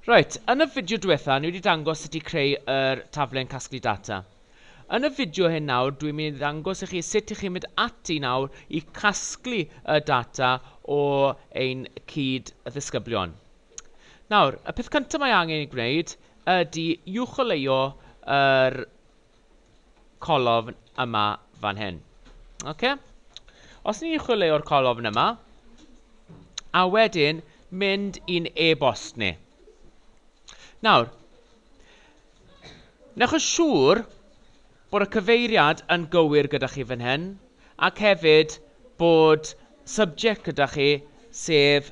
Reit, yn y fideo diwetha o'n i wedi dangos sut i creu yr taflen casglu data. Yn y fideo hyn nawr dwi'n mynd i ddangos i chi sut i chi mynd ati nawr i casglu y data o ein cyd-ddisgyblion. Nawr, y peth cyntaf mae angen ei gwneud ydy uwcholeuo yr colofn yma fan hyn. Okay? Os ni'n chwilio'r colofn yma, a wedyn mynd i'n e-bost ni. Nawr, newch yn siŵr bod y cyfeiriad yn gywir gyda chi fan hyn, ac hefyd bod subject gyda chi, sef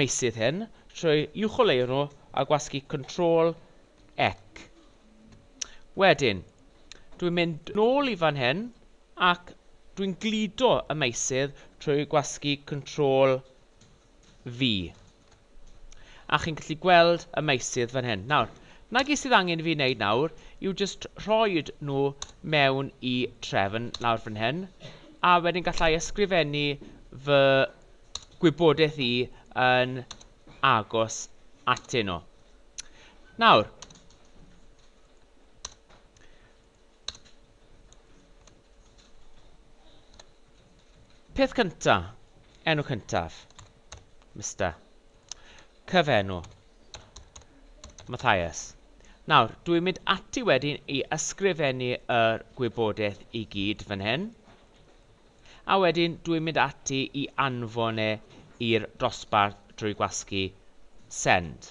meysydd hyn trwy uwcholeuo nhw a gwasgu Control ec. Wedyn, dwi'n mynd nôl i fan hyn ac dwi'n gludo y meysydd trwy gwasgu Control V. A chi'n gallu gweld y meysydd fan hyn. Nawr, na gyd sydd angen i fi wneud nawr yw jyst rhoi nhw mewn i trefn lawr fan hyn, a wedyn gallai ysgrifennu fy gwybodaeth i yn agos atyn nhw. Nawr, peth cynta, enw cyntaf, Mister, cyfenw, Matthias. Nawr, dwi'n mynd ati wedyn i ysgrifennu yr gwybodaeth i gyd fan hyn. a wedyn dw i'n mynd ati i anfon e i'r dosbarth drwy gwasgu send.